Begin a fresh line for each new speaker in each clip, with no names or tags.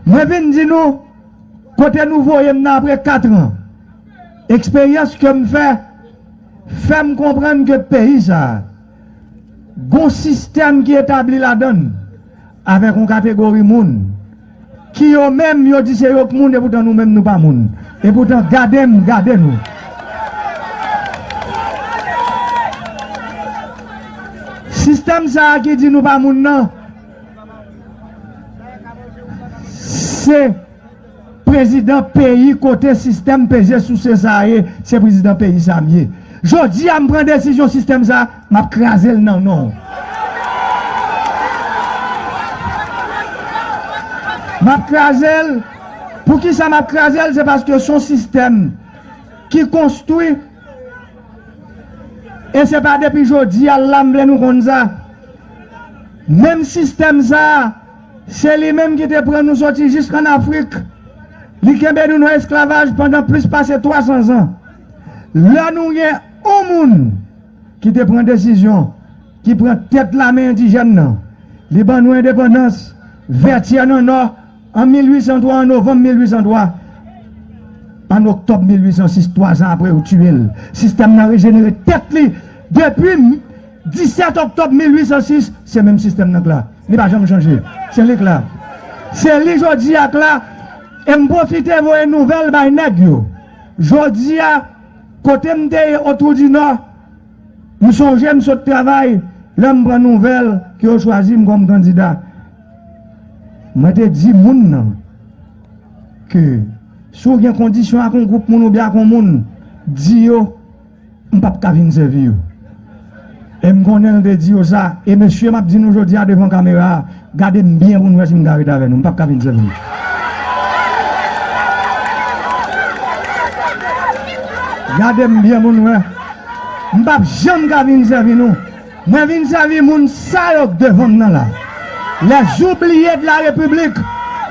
Mwen vin di nou kote nou voye m nan apre katran. Eksperyans ke m fè, fè m konprann ke peyi sa a, gon sistèm ki etabli ladan l avèk yon kategori moun. Ki yo menm yo di se yo k moun epoutan nou menm nou pa moun epoutan gade m gade nou. Sistèm sa a ki di nou pa moun nan se prezidan peyi kote sistèm peze souse sa a ye se prezidan peyi sa a m ye. Jodi a m pran desizyon sistèm sa a. Map krazel nan non. Map krazel poukisa map krazel se paske son sistèm ki konstwi e se pa depi jodi a la m vle nou konn sa menm sistèm sa se li menm ki te pran nou soti jis an afrik li kenbe nou nan esklavaj pandan plis pase 300 zan lè nou gen On moun ki te pran desizyon, ki pran tèt lame endijèn nan, li ban nou endepandans, Vètyè nan Nò, an 1803, an novanm 1803, an oktòb 1806, twazan apre yo tiye l, sistèm nan rejenere tèt li, depi 17 oktòb 1806, se menm sistèm nan k la, li pa janm chanje, se li k la, se li jodi a k la, e m pwofite voye nouvèl bay nèg yo, jodi a. Kote m te ye Otwoudinò, m sonje m sot travay lè m pran nouvèl ke yo chwazi m kòm kandida. Mwen te di moun nan ke si w gen kondisyon ak yon gwoup moun oubyen ak yon moun, di yo m p ap ka vin sèvi yo. E m konnen l te di yo sa. E mesye m ap di nou jodi a devan kamera a, gade m byen pou nou wè si m ka ret avè nou. M p ap ka vin sèl non. Gade m byen pou nou wè. M p ap janm ka vin sèvi nou. Mwen vin sèvi moun sa yo k devan m nan la. Lè zoubliye de la repiblik,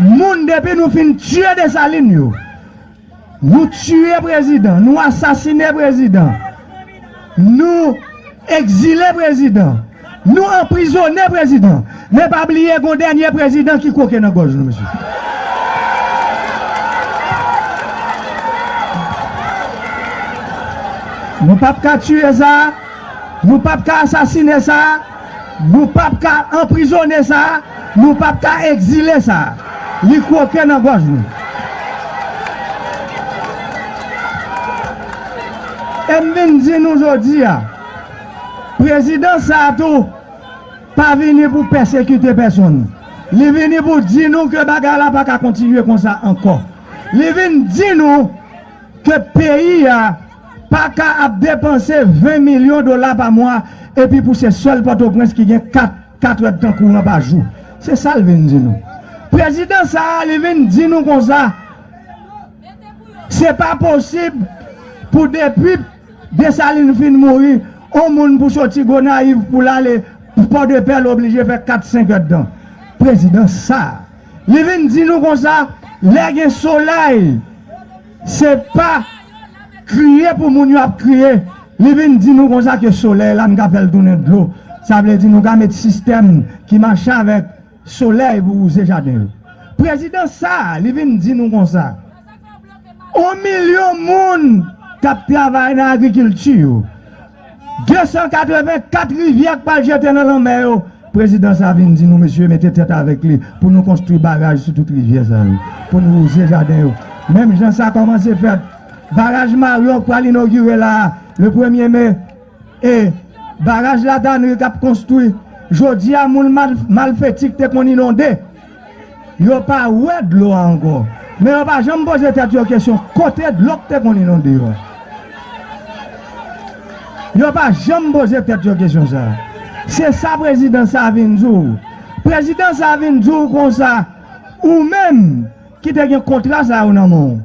moun depi nou fin tiye Desalin yo. Nou tiye prezidan, nou asasine prezidan, nou ekzile prezidan, nou anprizone prezidan, men pa bliye gon dènye prezidan ki kwoke nan gòj nou mesye. Nou pap ka tiye sa, nou pap ka asasine sa. Nou pap ka anprizone sa, nou pap ka egzile sa. Li kwoke nan gòj nou. E m vin di nou jodi a, prezidans sa tou pa vini pou pèsekite pèsonn. Li vini pou di nou ke bagay la pa ka kontinye konsa ankò. Li vin di nou ke peyi a. pa ka ap depanse 20 milyon dola pa mwa epi pou se sèl Pòtoprens ki gen 4 katredtan kouran pa jou. Se sa l vin di nou. Prezidan sa a li vin di nou konsa, se pa posib pou depi Desalin fin mouri, on moun pou soti Gonayiv pou l ale Pòdepè l oblije fè 4, 5 èdtan. Prezidan sa a li vin di nou konsa, lè gen solèy, Se pa kriye pou moun yo ap kriye. Li vin di nou konsa ke solèy la nou ka fè l tounen dlo. Sa vle di nou ka met sistèm ki mache avèk solèy pou wouze jaden yo. Prezidan sa a, li vin di nou konsa, On milyon moun k ap travay nan agrikilti yo, 284 rivyè k pral jete nan lanmè yo prezidan sa vin di nou mesye mete tèt avèk li pou nou konstwi baraj sou tout rivyè sa yo pou nou wouze jaden yo menm jan sa kòmanse fèt baraj maryon k pral inogire la a le premye me e baraj la tanri k ap konstwi jodi a moun malfeti k te konn inonde Yo pa wè dlo a ankò, men yo pa janm poze tèt yo kesyon kote dlo k te konn inonde yo a. Yo pa janm poze tèt yo kesyon sa a. Se sa prezidan sa a vin di w. Prezidan sa a vin di w konsa, ou menm ki te gen kontra sa yo nan men w,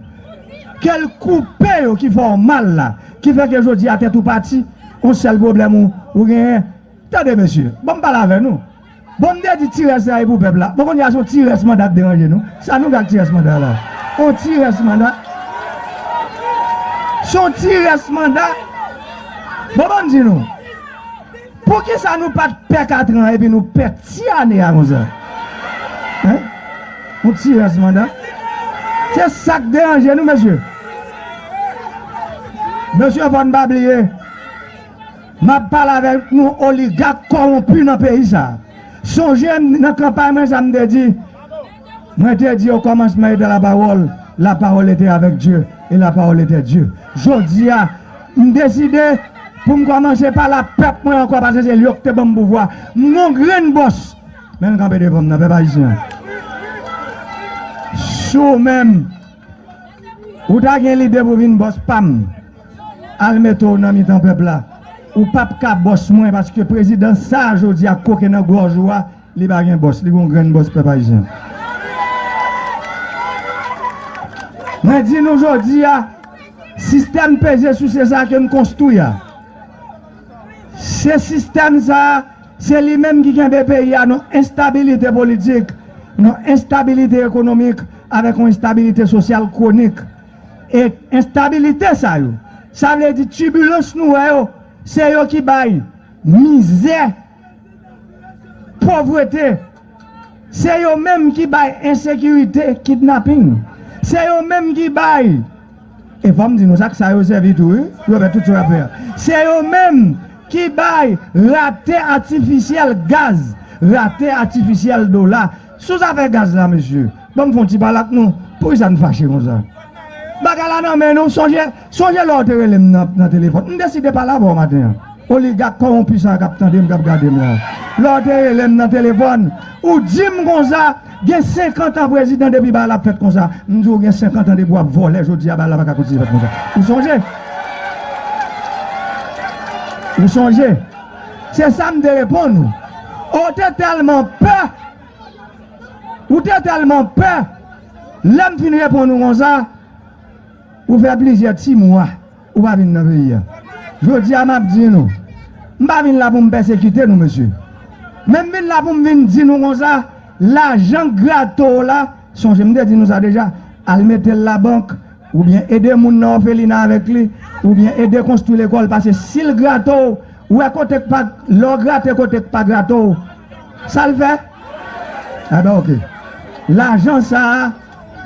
ke l koupe yo ki fè w mal la, ki fè ke jodi a tèt ou pati, on sèl pwoblèm ou genyen. Tande mesye, ban m pale avè nou. Bon m te di ti rès la e pou pèp la bon kounya son ti rès manda k deranje nou sa nou fè ak ti rès manda la on ti rès manda son ti rès manda bon banm di nou poukisa nou pat pè katran epi nou pè ti ane a konsa hein on ti rès manda se sak deranje nou mesye mesye fòn pa bliye. Map pale avek nou oligak kowonpi nan peyi sa. Sonje m nan kanpay mwen sa m te di, mwen te di o komansman ete la pawol, la pawol ete avek Dye e la pawol ete Dye. Jodi a m deside pou m komanse pale a pep mwen anko pase se yo ki te banm pouvwa. M gon grenn bos men m kanpe devan m nan pep ayisyen. Si w menm. Ou ta gen lide pou vin bòs pam al mete w nan mitan pèp la ou pap ka bòs mwen paske prezidan sa jodi a koke nan gòj ou a li pa gen bòs li gon grenn bòs pèp ayisyen mwen di nou jodi a sistèm peze souse sa ke n konstwi a se sistèm sa. Se li menm ki kenbe peyi a nan enstabilite politik, nan enstabilite ekonomik avèk yon enstabilite sosyal kwonik. E enstabilite sa yo, sa vle di tibilans nou wè yo, se yo ki bay mizè, povrete. Se yo menm ki bay ensekirite, kidnaping. Se yo menm ki bay. E fò m di nou sa, ak sa yo sèvi tou wi, pou yo fè tout sa yo ap fè a. Se yo menm ki bay rate atifisyèl gaz, rate atifisyèl dola. Sou zafè gaz la mesye, ban m fè yon ti pale ak nou. Poukisa n fache konsa? Bagay la nan men nou, sonje. Sonje lè w te rele m nan telefòn? M deside pale avè w maten an. Oligak kowonpi sa a k ap tande m, k ap gade m la. Lè w te rele m nan telefòn, ou di m konsa, Gen senkant an prezidan depi bagay la ap fèt konsa. M di w gen senkant an depi w ap vòlè jodi a bagay la pa ka kontinye fèt konsa. Ou sonje? Ou sonje? Se sa m te reponn ou. O w te tèlman pè! Ou te tèlman pè! Lè m fin reponn ou konsa. Ou fè plizyè ti mwa ou pa vin nan peyi a. Jodi a m ap di nou, m pa vin la pou m pèsekite nou mesye. Men m vin la pou m vin di nou konsa, lajan grate w la, sonje m te di nou sa deja, al mete l labank, oubyen ede moun nan òfelina avèk li, oubyen ede konstwi lekòl pase si l grate w, ou wè kote k pa, lè w grate kote k pa grate w, sa l fè? Enben ok. Lajan sa a.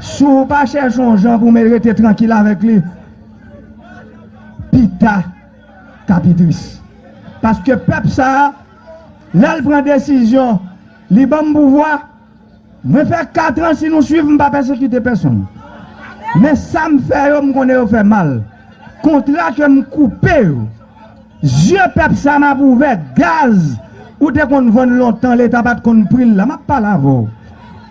Si w pa chèche yon jan pou mwen rete trankil avèk li, pi ta ka pi tris. Paske pèp sa a, lè l pran desizyon, li ban m pouvwa, mwen fè katran si nou suiv m pa pèsekite pèsonn. Men sa m fè yo m konnen yo fè mal. Kontra ke m koupe yo. Yeux pèp sa map ouvè. Gaz ou te konn vann lontan leta pat konn pril la map pale avèw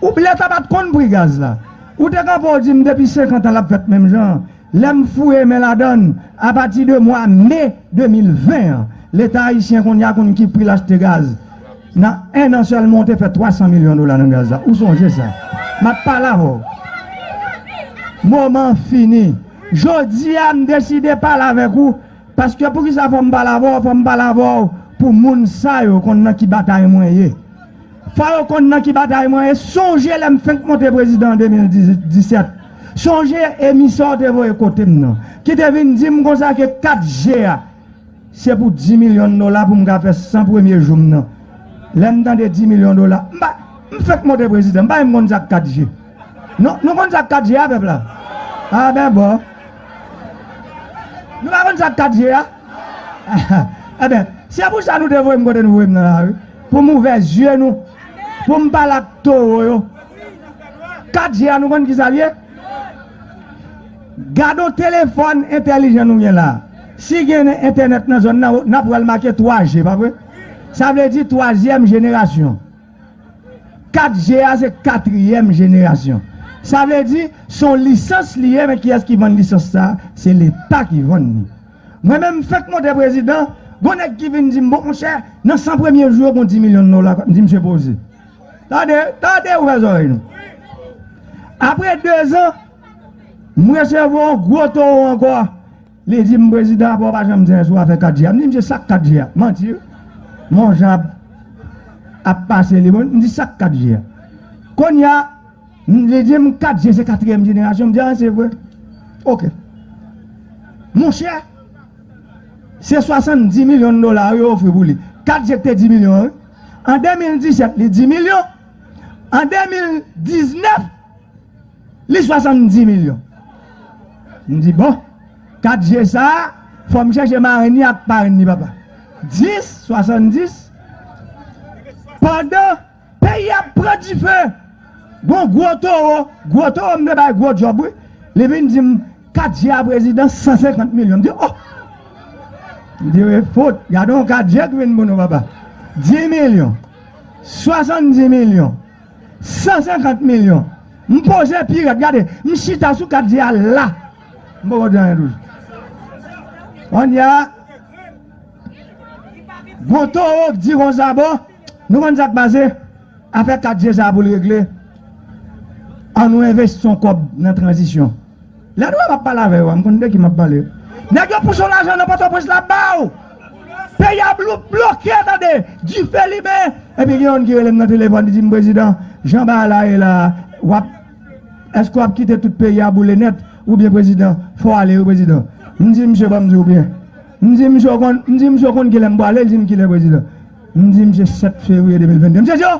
ou leta pat konn pri gaz la ou te kanpe ou dim depi 50 ans lap fèt menm jan lèm fouye men ladann apati de mwa me 2020 an leta ayisyen konnya konn ki pril achte gaz nan 1 an sèlman ou te fè 300 milyon dola nan gaz la ou sonje sa map pale avèw moman fini. Jodi a m deside pale avèk ou paske poukisa fò m pale avè w, fò m pale avè w pou moun sa yo konn nan ki batay mwen ye. Fò yo konn nan ki batay mwen ye, sonje lè m fenk monte prezidan an 2017, sonje emisè w te voye kote m nan ki te vin di m konsa ke 4G a se pou 10 milyon dola pou m ka fè 100 premye jou m nan. Lè m tande 10 milyon dola, m pa, m fenk monte prezidan, m pa menm konn sa k 4G. Nou nou konn sak kat je a pèp la ah ben bon nou pa konn sak kat je a ah ben se pou sa nou te voyem kote nou voyem nan la wi pou m ouvè zye nou pou m pale ak towo yo kat je a nou konn kisa l ye gadon telefòn entèlijan nou gen la si gen entènèt nan zòn nan nap wè l make 3 je pa vre sa vle di twazyèm jenerasyon. 4G a se katriyèm jenerasyon. Sa vle di, se yon lisans li ye men kiyès ki vann lisans sa a? Se Leta ki vann li. Mwen menm m fèk monte prezidan, gon nèg ki vin di m, bon monchè, nan 100 premye jou yo gon 10 milyon dola, m di msye poze. Tande, tande, ouvè zòrèy nou. Apre dezan, m resevwa yon gwo towo ankò. Li di m prezidan apa w pa janm di anyen sou afè 4G a. M di misye sak 4G a? Manti wi. Mon jan ap ap pase li bon. M di sak 4G a? Kounye a li di m 4G se katriyèm jenerasyon. M di a se vre? Ok. Monchè se 70 milyon dola wi yo ofri pou li. 4G te 10 milyon wi. An 2017 li 10 milyon. An 2019. Li 70 milyon. M di bon, 4 je sa a, fò m chèche marenn li ak parenn li papa. 10, 70, pandan peyi a ap pran dife, gon gwo towo, gwo towo m te bay gwo djòb wi, li vin di m, 4 je a prezidan, 150 milyon. M di o! M di e fout, gade yon 4 je ki vin pou nou papa. 10 milyon, 70 milyon. 150 milyon m poze pi rèd gade m chita sou kat di a la m poko di anyen toujou kounye a gon towo k di konsa bon nou konn sak pase afè kat di sa pou l regle an nou envesti yon kòb nan tranzisyon. Lè nou wè map pale avè yo a m konn de ki map pale. Nèg yo pouse w lajan nan pòtoprens la ba w. Peyi a bloke tande, dife limen epi gen youn ki rele m nan telefòn li di m prezidan jan bagay la ye la wap èske wap kite tout peyi a boule nèt oubyen prezidan fò w ale wi prezidan. M di misye banm di w byen m di misye w konn kilè m pwale li di m kilè prezidan m di misye 7 fevriye 2022 misye di yo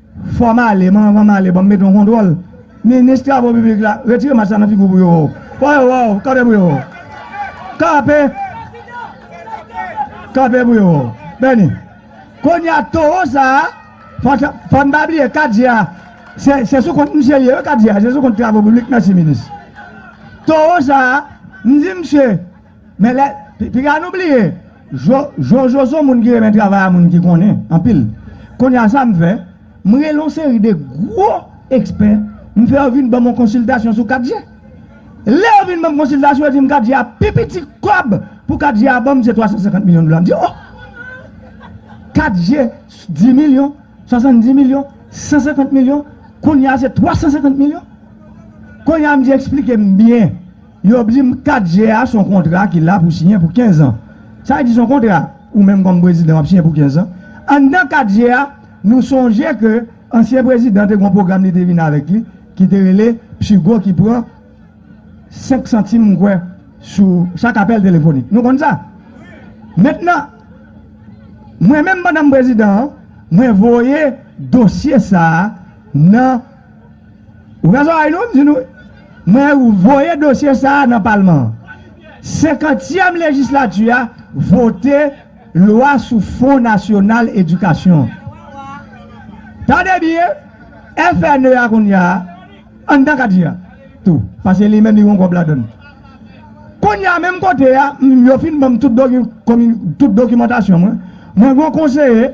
Fò m ale, m'en anvan m ale banm mete yon kontwòl. Minis travo piblik la, retire mask la nan figi w pou yo wè w. Fò yo wè w, kanpe pou yo wè w. Kanpe! Kanpe pou yo wè w. Bèni. Kounye a towo sa a, fò n pa bliye katje a, se sou kont misye l ye wi katje a, se sou kont travo piblik, mèsi minis. Towo sa a, m di misye. Men lè piga nou bliye jojo son moun ki renmen travay a moun ki konnen anpil kounya sa m fè m rele yon seri de gwo ekspè m fè yo vin ban m yon konsiltasyon sou 4G lè yo vin ban m konsiltasyon yo di m 4G a pi piti kòb pou 4G a ban m se 350 milyon dola m di o 4G 10 milyon 70 milyon 150 milyon kounya se 350 milyon kounya m di esplike m byen Yo ap di m 4 je a s on kontra ki la pou siyen pou 15 an. Sa vle di s on kontra ou menm kòm prezidan w ap siyen pou 15 an. Anndan 4 je a, nou sonje ke ansyen prezidan te gen on pwogram li te vin avèk li ki te rele PSUGO ki pran 5 santim m kwè sou chak apèl telefonik. Nou konn sa? Mentnan, mwen menm pandan m prezidan an, mwen voye dosye sa a nan. Ou gen zòrèy non, m di nou, mwen voye dosye sa a nan palman an. Senkantyèm lejislati a vote lwa sou fon nasyonal edikasyon. Tande byen, FNE a kounya, anndan kadi a tou, pase li menm li gen yon kòb ladann. Kounya menm kote a, yo fin ban m tout dokimantasyon mwen, mwen gen yon konseye,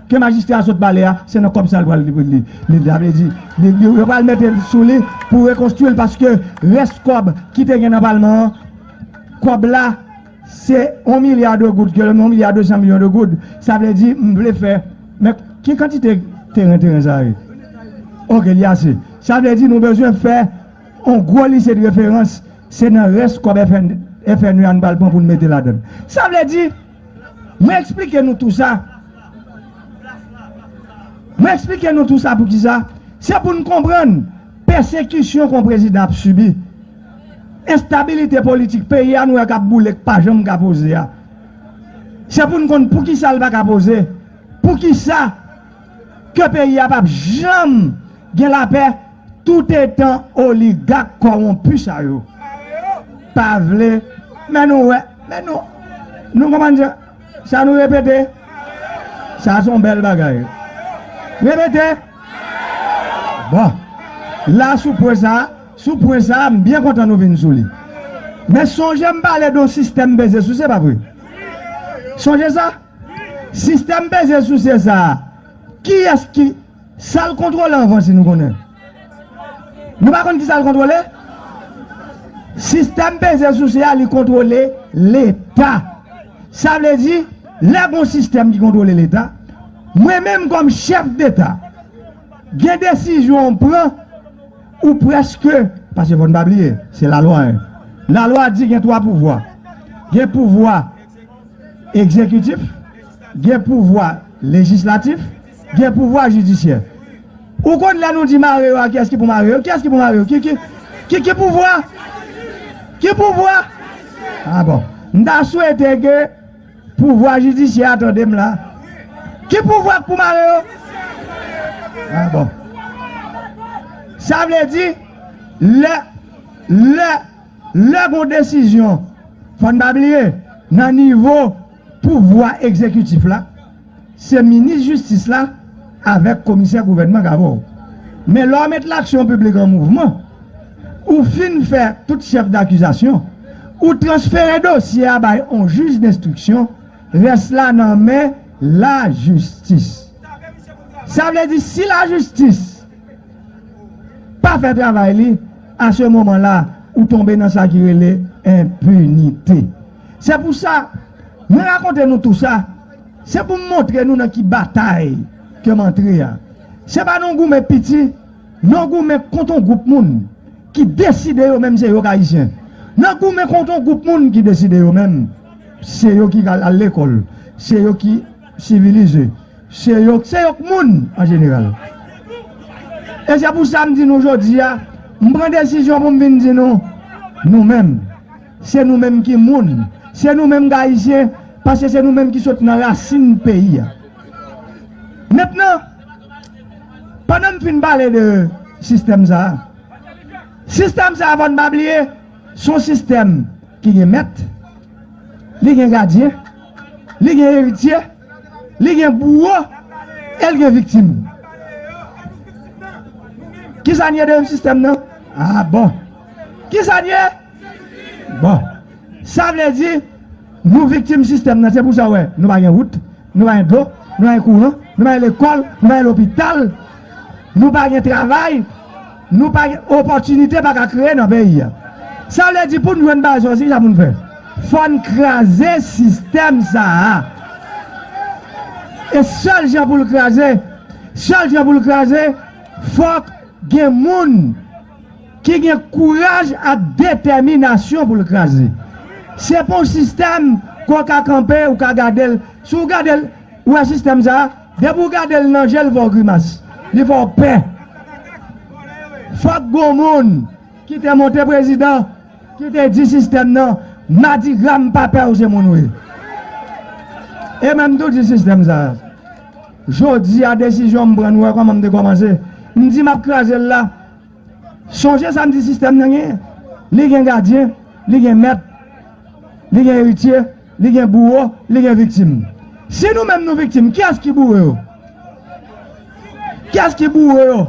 Ke majistra a sot pale a se nan kòb sa li pral li sa vle di yo pral mete sou li pou rekonstwi l paske rès kòb ki te gen nan palman an kòb la se 1 milya de goud ke lè m di 1 milya 200 milyon de goud sa vle di m vle fè men ki kantite teren teren sa ye ok li ase sa vle di nou bezwen fè yon gwo lise de referans se nan rès kòb FNU a nou pral pran pou nou mete ladan l sa vle di Mwen eksplike nou tou sa. Mwen eksplike nou tou sa pou kisa? Se pou n konprann pèsekisyon kon prezidan ap sibi, enstabilite politik peyi a nou wè k ap boule k pa janm ka poze a. Se pou n konn pou kisa l pa ka poze, pou kisa. ke peyi a pap janm gen lapè toutetan oligak kòwonpi sa yo pa vle men nou wè men nou nou konprann sa sa nou repete sa son bèl bagay repete bon la sou pwen sa sou pwen sa m byen kontan nou vin sou li men sonje m pale don sistèm beze sou se pa vre sonje sa Sistèm peze souse sa a, kiyès ki. Sa l kontwole anvan si nou konnen? Nou pa konn ki sa l kontwole? Sistèm peze souse a li kontwole Leta. Sa vle di, lè gon sistèm ki kontwole Leta, mwen menm kòm chèf deta, gen desizyon ou pran, ou prèske, paske fò n pa bliye, se lalwa 1. Lalwa di gen twa pouvwa. Gen pouvwa. egzekitif, gen pouvwa lejislatif, gen pouvwa jidisyè. Ou konn lè nou di mare yo a kiyès ki pou mare yo? Kiyès ki pou mare yo? Ki ki ki ki pouvwa? Ki pouvwa? A bon. M ta swete ke pouvwa jidisyè a tande m la. Ki pouvwa k pou mare yo? A bon. Sa vle di lè lè Lè gon desizyon, fò n pa bliye, nan nivo pouvwa egzekitif la, se minis jistis la avèk komisè gouvènman k avè w. Men lè w met laksyon piblik an mouvman, ou fin fè tout chèf dakizasyon, ou transfere dosye a bay on jij denstriksyon, rès la nan men lajistis. Sa vle di si lajistis. pa fè travay li a se moman la ou tonbe nan sa ki rele enpinite se pou sa mwen rakonte nou tou sa se pou m montre nou nan ki batay ke m antre a se pa nan goumen piti nan goumen kont yon gwoup moun ki deside yo menm se yo k ayisyen nan goumen kont yon gwoup moun ki deside yo menm se yo ki al lekòl se yo ki Sivilize. Se yo se yo k moun an jeneral. E se pou sa m di nou jodi a, m pran desizyon pou m vin di nou, nou menm, se nou menm ki moun, se nou menm k Ayisyen, paske se nou menm ki sot nan rasin peyi a. Mentnan, pandan m fin pale de sistèm sa a, sistèm sa a fò n pa bliye, s on sistèm ki gen mèt, li gen gadyen, li gen eritye, li gen bouwo, e l gen viktim. Kisa n ye deyim sistèm nan? A bon! Kisa n ye? Bon! Sa vle di, nou viktim sistèm nan, se pou sa w wè nou pa gen wout, nou pa gen dlo, nou pa gen kouran, nou pa gen lekòl, nou pa gen lopital, nou pa gen travay, Nou pa gen opòtinite pa ka kreye nan peyi a. Sa vle di pou n jwenn baze yo se kisa pou n fè? Fò n kraze sistèm sa a. E sèl jan pou l kraze, sèl jan pou l kraze, fòk gen moun ki gen kouraj ak detèminasyon pou l kraze. Se pa yon sistèm ke w ka kanpe, ou ka gade l. Si w gade l, ou wè sistèm sa a? Depi w gade l nan je l fè w grimas, li fè w pè. Fòk gon moun ki te monte prezidan ki te di sistèm nan madigra m pa pè w se moun w ye. E men m tou di sistèm sa a jodi a desizyon m pran nou wè kòman m te kòmanse m di m ap kraze l la. Sonje sa m di sistèm nan genyen. Li gen gadyen, li gen mèt, li gen eritye, li gen bouwo, li gen viktim. Si nou menm nou viktim, kiyès ki boure yo? Kiyès ki boure yo?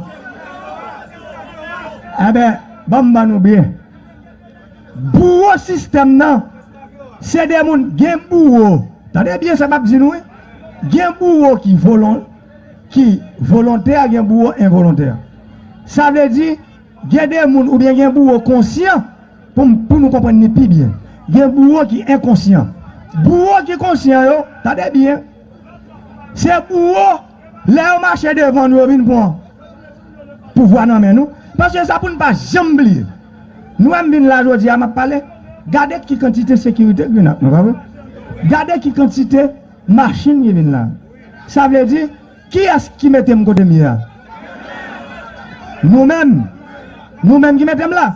Enben, ban m ban nou byen. Bouwo sistèm nan, se de moun, gen bouwo, tande byen sa m ap di nou wi, gen bouwo ki volon, ki volontè a gen bouwo envolontè. Sa vle di gen de moun oubyen gen bouwo konsyan pou nou konprann ni pi byen. Gen bouwo ki enkonsyan. Bouwo ki konsyan yo, tande byen, se bouwo lè yo mache devan nou yo vin pran pouvwa nan men nou. Paske sa pou nou pa janm bliye. Nou wè m vin la jodi a m ap pale, gade ki kantite sekirite k vin ak mwen pa vre? Gade ki kantite. Machin li vin la. Sa vle di, kiyès ki mete m kote m ye a? Nou menm! Nou menm ki mete m la!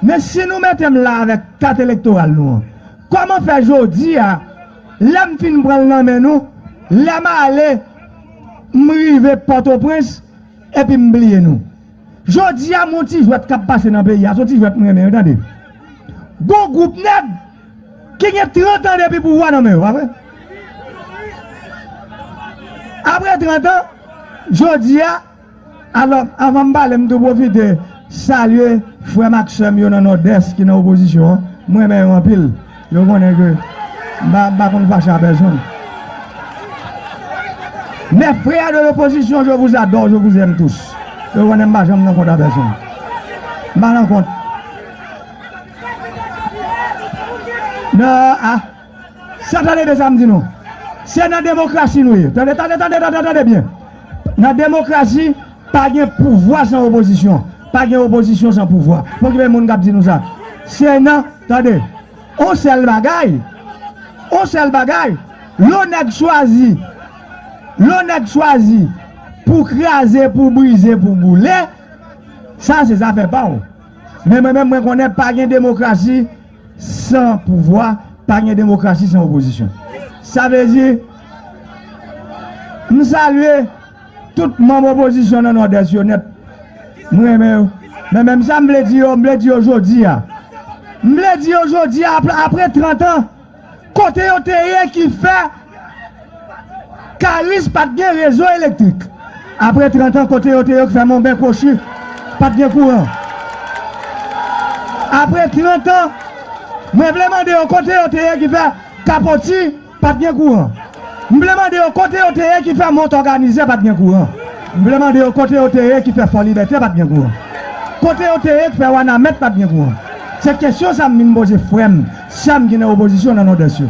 Men si nou mete m la avèk kat elektoral nou an, kòman fè jodi a, lè m fin pran l nan men nou, lè m ale, m rive Pòtoprens, epi m bliye nou? Jodi a m yon ti jwèt k ap pase nan peyi a, s on ti jwèt m renmen wi tande. Gon gwoup nèg! ki gen 30 an depi pouvwa nan men yo, pa vre? Apre 30 an, jodi a, alò, anvan m pale, m tou pwofite salye frè m ak sè m yo nan Nòdès ki nan opozisyon an, m renmen yo anpil, yo konnen ke m pa konn fache a pèsonn. Mes frères de l'opposition, je vous adore, je vous aime tous. Yo konnen m pa janm nan kont a pèsonn. M pa nan kont. Nan a Sa tande byen sa m di nou. Se nan demokrasi nou ye. Tande tande tande tande tande byen. Nan demokrasi, pa gen pouvwa san opozisyon. Pa gen opozisyon san pouvwa. Fò gen moun k ap di nou sa. Se nan Tande On sèl bagay On sèl bagay Lè w nèg chwazi Lè w nèg chwazi Pou kraze pou brize pou boule Sa se zafè pa w Men mwen menm mwen konnen pa gen demokrasi san pouvwa, pa gen demokrasi san opozisyon. Sa vle di, m salye tout manm opozisyon nan Nòdès yo nèt, m renmen yo. Men menm sa m vle di yo, m vle di yo jodi a, m vle di yo jodi a apre 30 an, Kote yo te ye ki fè Karis pa t gen rezo elektrik? Apre trantan, kote yo te yo ki fè Monben Kwochi pa t gen kouran? Apre trantan, mwen vle mande yo kote yo te ye ki fè Kapoti pa t gen kouran? M vle mande yo kote yo te ye ki fè mont òganize pat gen kouran? M vle mande yo kote yo te ye ki fè fò libète pat gen kouran? Kote yo te ye k fè wanament pat gen kouran? Se kesyon sa m vin poze frè m, sè m ki nan opozisyon nan Nòdès yo.